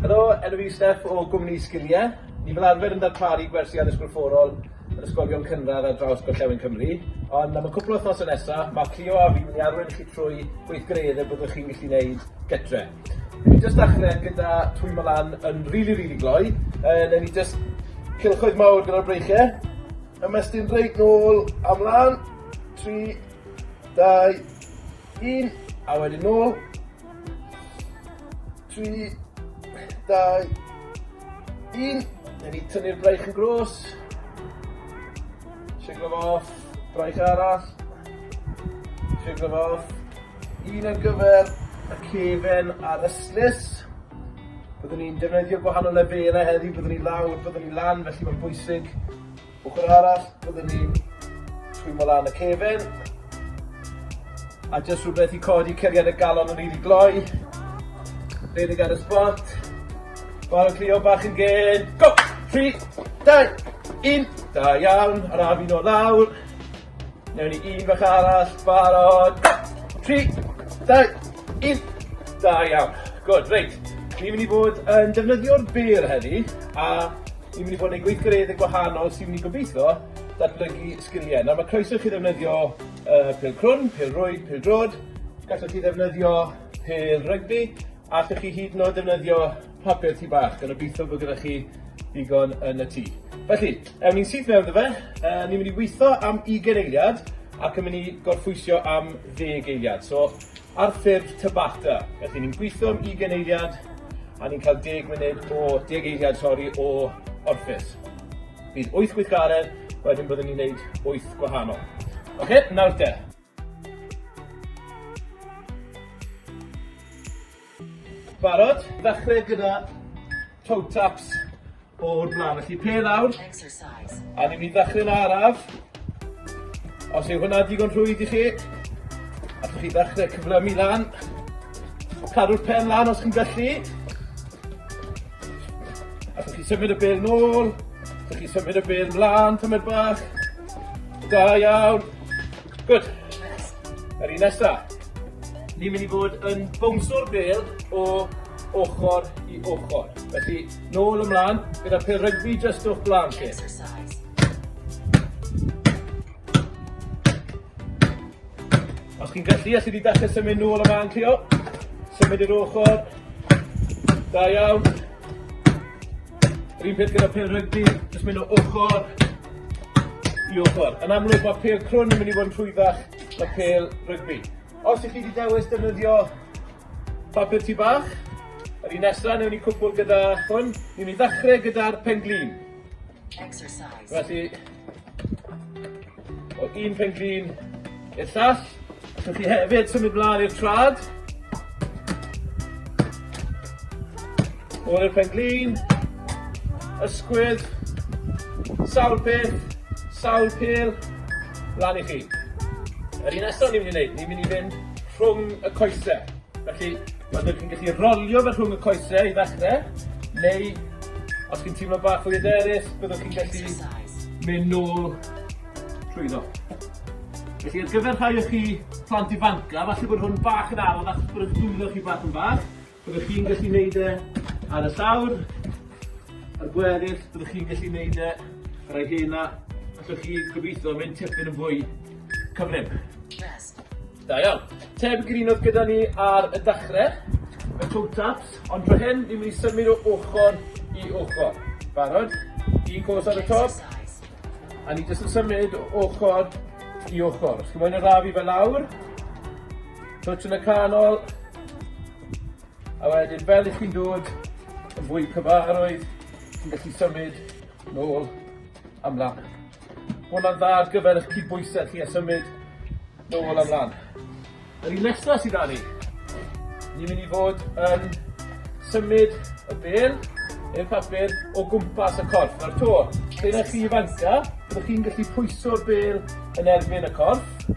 Helo, enw fi yw Steff o gwmni Sgiliau. Ni fel arfer yn darparu gwersi addysg gorfforol yn ysgolion cynradd ar draws gorllewin Cymru, ond am y cwpl o wythnosau nesaf, mae Clio a fi'n mynd i arwain chi trwy gweithgareddau byddwch chi'n gallu gwneud gytre. Newn ni jyst dechre gyda twymo lan yn rili rili gloi yy newn ni jyst cylchoedd mawr gyda'r breichie. Ymestyn reit nôl a mlan. Tri, dau, un a wedyn nôl. Tri, dau, un. Newn ni tynnu'r braich yn grôs. Shiglo fo off. Braich arall. Shiglo fo off. Un ar gyfer y cefen a'r ystlys. Byddwn ni'n defnyddio gwahanol lefelau heddi, byddwn ni lawr, byddwn ni lan, felly mae'n bwysig. Ochr arall, byddwn ni'n twymo lan y cefen. A jyst rhywbeth i codi ceriad y galon yn rili gloi. Redig ar y spot. Barod Cleo bach yn gyd. Go! 3, 2, 1. Da iawn, ar a fi'n o lawr. Newn ni un bach arall, barod, tri, dau, un, da iawn. Good, reit. Ni'n mynd i fod yn defnyddio'r bêr heddi, a ni'n mynd i fod yn ei gweithgareddau gwahanol sy'n mynd i gobeithio datblygu sgiliau. Nawr mae croeso chi ddefnyddio uh, pel crwn, pel rwyd, pel drod, gallwch chi ddefnyddio pel rygbi, a allwch chi hyd yn oed ddefnyddio papur tŷ bach, gan obeithio bod gyda chi ddigon yn y tŷ. Felly, ewn ni'n syth mewn iddo fe, uh, ni'n mynd i weithio am 20 eiliad ac yn mynd i gorffwysio am 10 eiliad. So, ar ffurf tabata. Felly, ni'n gweithio am 20 eiliad a ni'n cael 10 munud o 10 eiliad, sori, o orffus. Bydd 8 gweithgaredd, wedyn byddwn ni'n gwneud 8 gwahanol. Oce, okay, nawr te. Barod? Dechrau gyda toe taps o'r blaen. Felly, pe lawr. A ni'n mynd dechrau'n araf. Os yw hwnna digon rhwydd i chi, allwch chi ddechrau cyflymu lan. Cadw'r pen lan os chi'n gallu. Allwch chi symud y bel nôl. Allwch chi symud y bel mlaen, tymed bach. Da iawn. Good. Yr un nesa. Ni'n mynd i fod yn bownswr bel o ochr i ochr. Felly, nôl ymlaen, gyda pêl rygbi just o'ch blaen chi. Os chi'n gallu, allai di dechrau symud nôl ymlaen chi o. Symud i'r ochr. Da iawn. Yr un peth gyda pêl rygbi, jyst mynd o ochr i ochr. Yn amlwg mae pêl crwn yn mynd i fod yn rhwyddach na pêl rygbi. Os ych chi wedi dewis defnyddio papur tu bach, yr un nesaf newn ni cwpl gyda hwn, ni'n mynd i ddechrau gyda'r penglin. Exercise. Felly, O un pen glin i'r llall. Allwch chi hefyd symud mlaen i'r trad. O'r pen glin. Ysgwyd. Sawl peth. Sawl pil. Mlaen i chi. Yr un nesaf ni'n mynd i wneud, ni'n mynd i fynd rhwng y coesau. Felly, oeddech chi'n gallu rolio fe rhwng y coesau i ddechrau, neu os chi'n teimlo bach fwy hyderus, byddwch chi'n gallu mynd nôl trwyddo. Felly, ar gyfer rhai o chi plant ifanca, falle bod hwn bach yn anodd achos bod eich dwylo chi bach yn fach, byddwch chi'n gallu neud e ar y llawr, a'r gweddill, byddwch chi'n gallu neud e ar ei hena, allwch chi gobeithio mynd tipyn yn fwy cyflym. Da iawn. Tebyg i'r un oedd gyda ni ar y dachre. Y toe taps, ond dro hyn ni'n mynd i symud o ochr i ochr. Barod? Un cos ar y top. A ni jyst yn symud o ochr i ochr. Os chi moyn arafu fe lawr. Twtch yn y canol. A wedyn fel i chi'n dod yn fwy cyfarwydd, chi'n gallu symud nôl am lan. Hwna'n dda ar gyfer eich cydbwysedd chi a symud nôl a mlan. Yr un nesa sy 'da ni. Ni myn' i fod yn symud y bêl neu'r papur o gwmpas y corff. Nawr 'to, p'un a chi ifanca, byddwch chi'n gallu pwyso'r bêl yn erbyn y corff.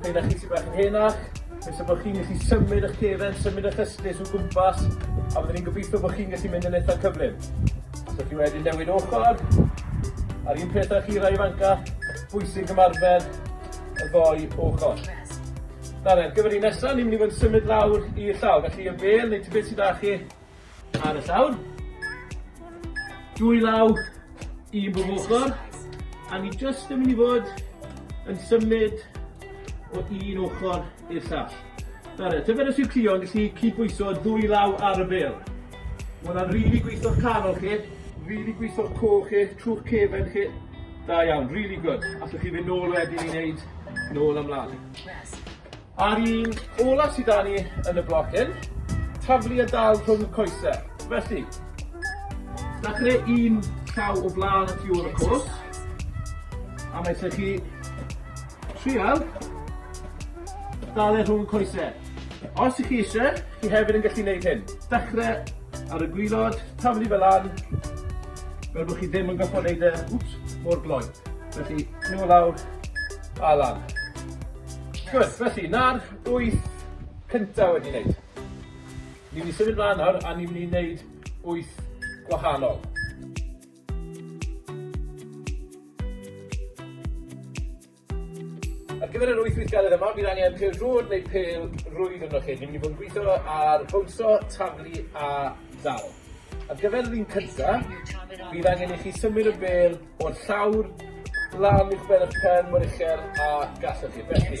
P'un a chi sy bach yn henach, Nes y bod chi'n gallu symud eich cefn, symud eich ystus o gwmpas, a byddwn ni'n gobeithio bod chi'n gallu mynd yn eitha cyflym. Allwch chi wedyn newid ochr, a'r un peth â chi rai ifanca, bwysig ymarfer y ddou ochr. Nawr ar gyfer y nesaf, ni'n mynd i fod yn symud lawr i'r llawr, felly y bel neu tybed sydd â chi ar y llawr. Dwy law i bob ochr, a ni jyst yn mynd i fod yn symud o un ochr i'r llall. Nawr, tybed os yw Cleo yn gallu cydbwyso ddwy law ar y bêl? Mae hwnna'n rili gweithio'r canol chi, rili gweithio'r coch chi, trwy'ch cefen chi. Da iawn, rili gwd. Allwch chi fynd nôl wedyn i wneud nôl a mlaen. Yes. A'r un olaf sydd da ni yn y bloc hyn, taflu a dal rhwng y coesau. Felly, da creu un llaw o blaen y tu ôl y cwrs, a mae lle chi Trial. Dal e rhwng coesau. Os ych chi eisiau, chi hefyd yn gallu gwneud hyn. Dechrau ar y gwylod, taflu fe lan, fel bod chi ddim yn gorfod gwneud e, wps, mor gloi. Felly, nhw o lawr, a lan. Gwyd, felly, na'r wyth cyntaf wedi wneud. Ni'n mynd i symud mlaen nawr, a ni'n mynd i wneud wyth gwahanol. Ar gyfer yr wyth weithgaredd yma, bydd angen pêl droed neu pêl rwydd ynddo chi. Ni'n mynd i fod yn gweithio ar bownsio, taflu a dal. Ar gyfer yr un cynta, bydd angen i chi symud y bêl o'r llawr lan uwchben eich pen mor uchel a gallwch chi. Felly,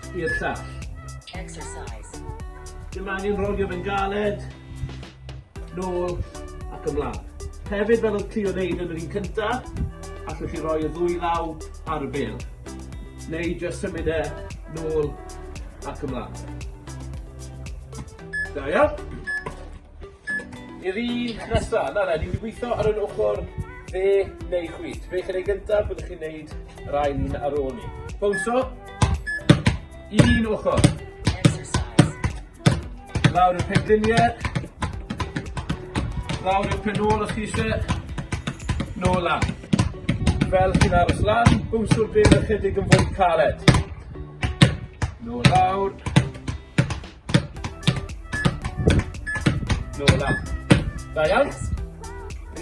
i'r llall. Exercise. Dyma angen rhoi fe'n galed. Nôl ac ymlaen. Hefyd fel oedd Cleo wneud yn yr un cyntaf, allwch chi roi y ddwy law ar y bel. Neu jyst symud e nôl ac ymlaen. Da iawn. I'r un nesa, na na, ni'n mynd i weithio ar yr ochr dde neu chwith. Be' chi'n neud gyntaf, byddwch chi'n neud yr ail un ar ôl ni. Bownsio, un ochr. Lawr y penglinie, lawr y pen ôl os chi eisiau, nôl lan. Fel chi'n aros lan, bownsio'r bel ychydig yn fwy caled. Nôl lawr. Nôl lan. Da iawn.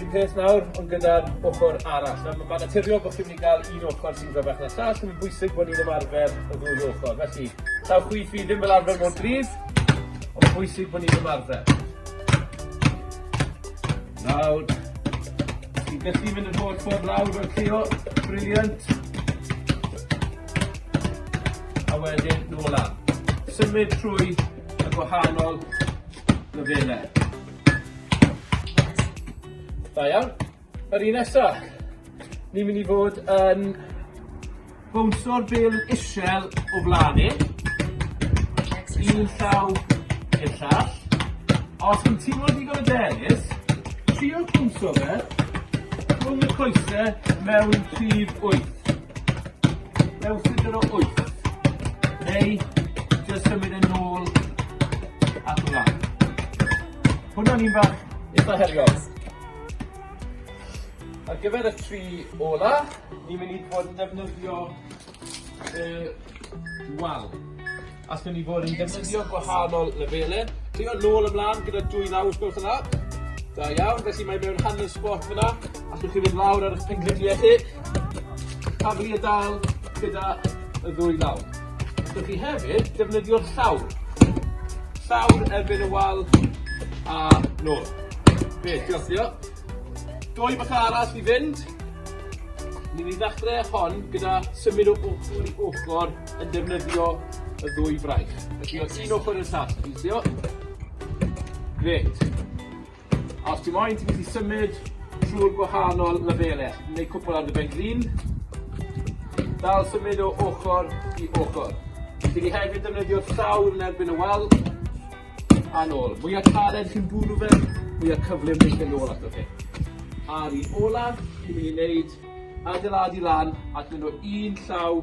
Un peth nawr, ond gyda'r ochr arall. Nawr, mae'n naturiol bod chi'n mynd i gael un ochr sy'n gryfach na llall, mae'n bwysig bod ni'n ymarfer y ddwy ochr. Felly, taw chwi fi ddim fel arfer mor gryf, ond mae'n bwysig bod ni'n ymarfer. Nawr, ti'n gallu mynd yn holl ffordd lawr o'r ceo, briliant. a wedyn nôl lan. Symud trwy y gwahanol lefelau. Da iawn. Yr un nesa, ni'n mynd i fod yn bownsio'r bel isel o flaen ni. Un llaw i'r llall. Os ti'n teimlo digon o denis, trio cwmso fe rhwng y coesau mewn rhif 8. Mewn ffigur o wyth. Neu, jyst symud yn ôl at y lan. Hwna'n un fach eitha heriol. Ar gyfer y tri ola, ni'n mynd i fod yn defnyddio y wal. Allwn ni fod yn defnyddio gwahanol lefelau. Trio nôl a mlaen gyda dwy law os gwelwch yn dda. Da iawn, felly mae mewn hanner sbot fyna. Allwch chi fynd lawr ar eich pengliniau chi. Taflu y dal gyda y ddwy law. Allwch chi hefyd defnyddio'r llawr. Llawr erbyn y wal a nôl. Be, diolch, diolch. Dwy bach arall i fynd. Ni'n mynd i ddechrau hon gyda symud o ochr i ochr. yn defnyddio y ddwy fraich. Felly o un ochr i'r llall, ti'n sio? Grêt. A os ti moyn, ti'n gallu symud trwy'r gwahanol lefelau. Neu cwpl ar dy ben glin. Dal symud o ochr i ochr. Ti wedi hefyd defnyddio llawr yn erbyn y wal. A nôl. Mwy o caled chi'n bwrw fe, mwy o cyflym yn mynd nôl ato fe. A'r un olaf, ni'n mynd i wneud adeiladu lan ac mynd o un llaw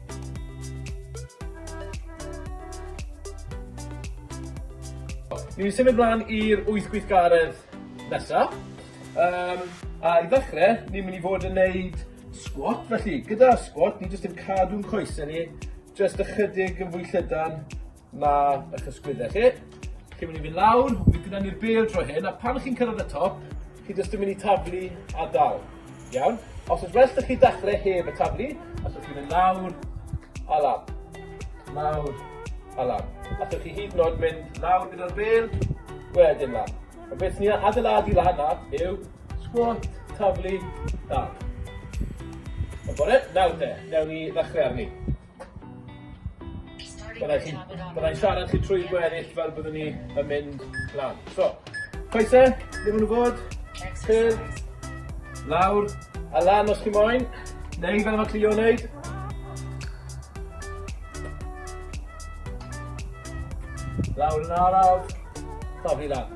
Ni'n mynd i symud mlaen i'r wyth gweithgaredd nesa. Um, a i ddechrau, ni'n mynd i fod yn neud squat, felly gyda squat, ni jyst yn cadw'n coesau ni, jyst ychydig yn fwy llydan, 'ma ych ysgwydde chi. Chi'n mynd i fynd lawr, fi'n mynd ni'r bel dro hyn, a pan chi'n cyrraedd y top, chi jyst yn mynd i taflu a dal. Iawn? Os oes well da chi dachle heb y taflu, os ydych chi'n mynd lawr a lan. Lawr a lan. Os ydych chi hyd yn oed mynd lawr gyda'r bel, wedyn lan. A beth ni adeiladu lan na yw squat, taflu, dal. Yn bore, nawr te, newn ni ddechrau arni. Byddai chi'n... Byddai'n siarad chi trwy gweddill fel byddwn ni yn mynd lan. So, coese, ble maen nhw fod? Ffyr, lawr, a lan os chi moyn. Neu fel mae Cleo yn neud. Lawr yn araf, torri lan.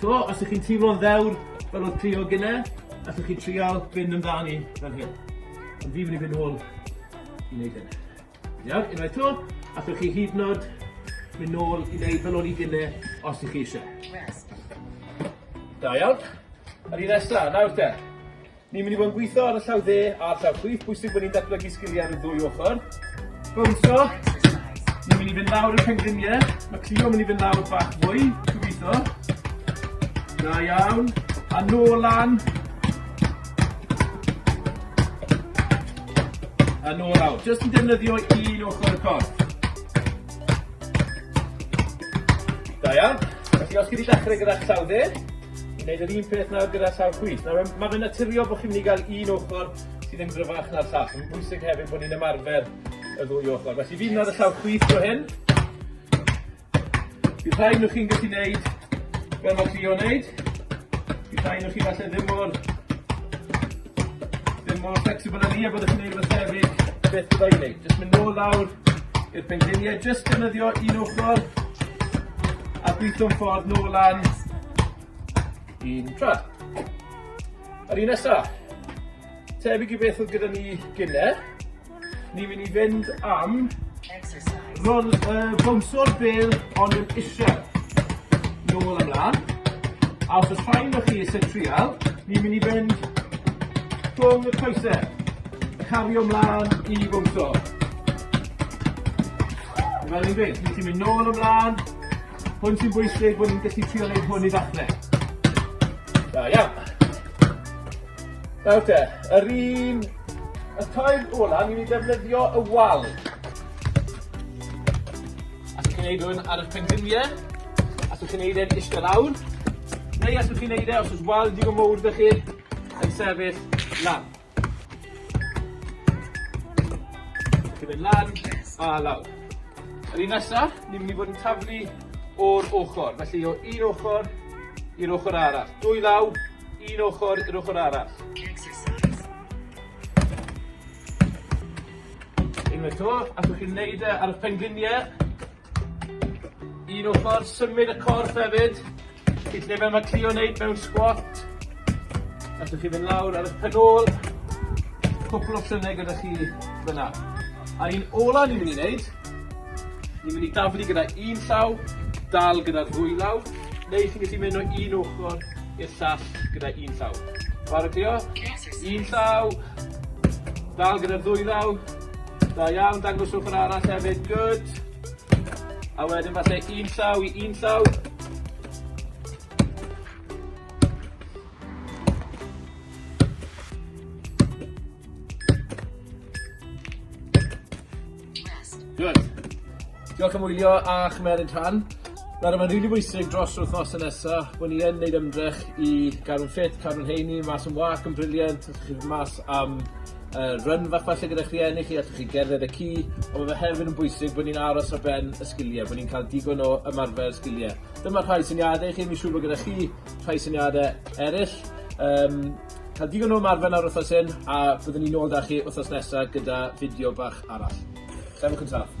So, os ych chi'n teimlo'n ddewr fel oedd Cleo gynne, allwch chi trial fynd amdani fel hyn. Ond fi'n mynd i fynd ôl i wneud hyn. Iawn, unwaith to, allwch chi hyd nod mynd nôl i wneud fel o'n i gynne os ych chi eisiau. Da iawn. Yr un nesaf, nawr te. Ni'n mynd i fod yn gweithio ar y llaw dde a'r llaw chwith. Bwysig bod ni'n datblygu sgiliau ar y ddwy ochr. Bwnsio. Ni'n mynd i fynd lawr y pengliniau. Mae Cleo yn mynd i fynd lawr bach fwy. Gobeithio. Da iawn. A nôl lan. A nôl lawr. Jyst yn defnyddio un ochr y corff. Da iawn. Felly os chi wedi dechrau gyda llaw dde, i wneud yr un peth nawr gyda llawr chwith. Nawr, um, mae fe'n naturiol bod chi'n mynd i gael un ochr sydd yn gryfach na'r llall. Mae'n bwysig hefyd bod ni'n ymarfer y ddwy ochr. Felly fi'n ar y llawr chwith o hyn. Bydd rhai nhw chi'n gallu gwneud fel mae Cleo wneud. Bydd rhai nhw chi falle ddim mor Ddim mor flexible â ni a byddwch chi'n neud rwbeth tebyg, beth bydda i'n neud? Jyst mynd nôl lawr i'r penglinie, jyst defnyddio un ochr a gwitho'n ffordd nôl lan un tra. Yr un nesa. Tebyg i beth oedd gyda ni gynne. Ni'n mynd i fynd am exercise. Rol, uh, bwmso'r bel ond yn eisiau. Nôl ymlaen. A os oes rhaid o chi eisiau trial, ni'n mynd i fynd rhwng y coesau. Cario ymlaen i bwmso. Fel ni'n gweud, ni ti'n mynd nôl ymlaen. Hwn sy'n bwysig, bod ni'n gallu trial ei hwn i ddechrau. Da iawn. Nawr te, yr un... Y tair ola, ni'n mynd i ddefnyddio y wal. Allwch chi'n neud hwn ar y pengliniau, allwch chi'n neud e'n eistedd lawr, neu allwch chi'n neud e os oes wal digon mowr da chi yn sefyll lan. Chi'n mynd lan a lawr. Yr un nesaf, ni'n mynd i fod yn taflu o'r ochr, felly o un ochr i'r ochr arall. Dwy law, Un ochr i'r ochr arall. Unwaith to, allwch chi wneud e ar y pengliniau. Un ochr, symud y corff hefyd. Felly lle fel mae Cleo wneud mewn squat. Allwch chi fynd lawr ar y penol. Cwpl o llynau gyda chi fyna. A'r un ola ni'n mynd i wneud Ni'n mynd i daflu gyda un llaw, dal gyda'r ddwy law, neu chi'n gallu mynd o un ochr i'r llall gyda un llaw. Barod Cleo? Un llaw, dal gyda'r ddwy law, da iawn, dangos ochr arall hefyd, good. A wedyn falle un llaw i un llaw. Good. Diolch am wylio a chymeryd rhan. Nawr mae'n rili bwysig dros yr wythnos yn nesa bod ni yn neud ymdrech i gadw'n ffit, cadw'n heini, mas yn wag yn briliant, allwch chi mas am uh, run fach falle gyda chi enni chi, allwch chi gerdded y ci, ond mae fe hefyd yn bwysig bod ni'n aros ar ben y sgiliau, bod ni'n cael digon o ymarfer sgiliau. Dyma rhai syniadau i chi, mi'n siŵr bod gyda chi rhai syniadau eraill. Um, Cael digon o ymarfer nawr wythnos hyn a byddwn ni nôl da chi wythnos nesa gyda fideo bach arall. Trefwch yn saff.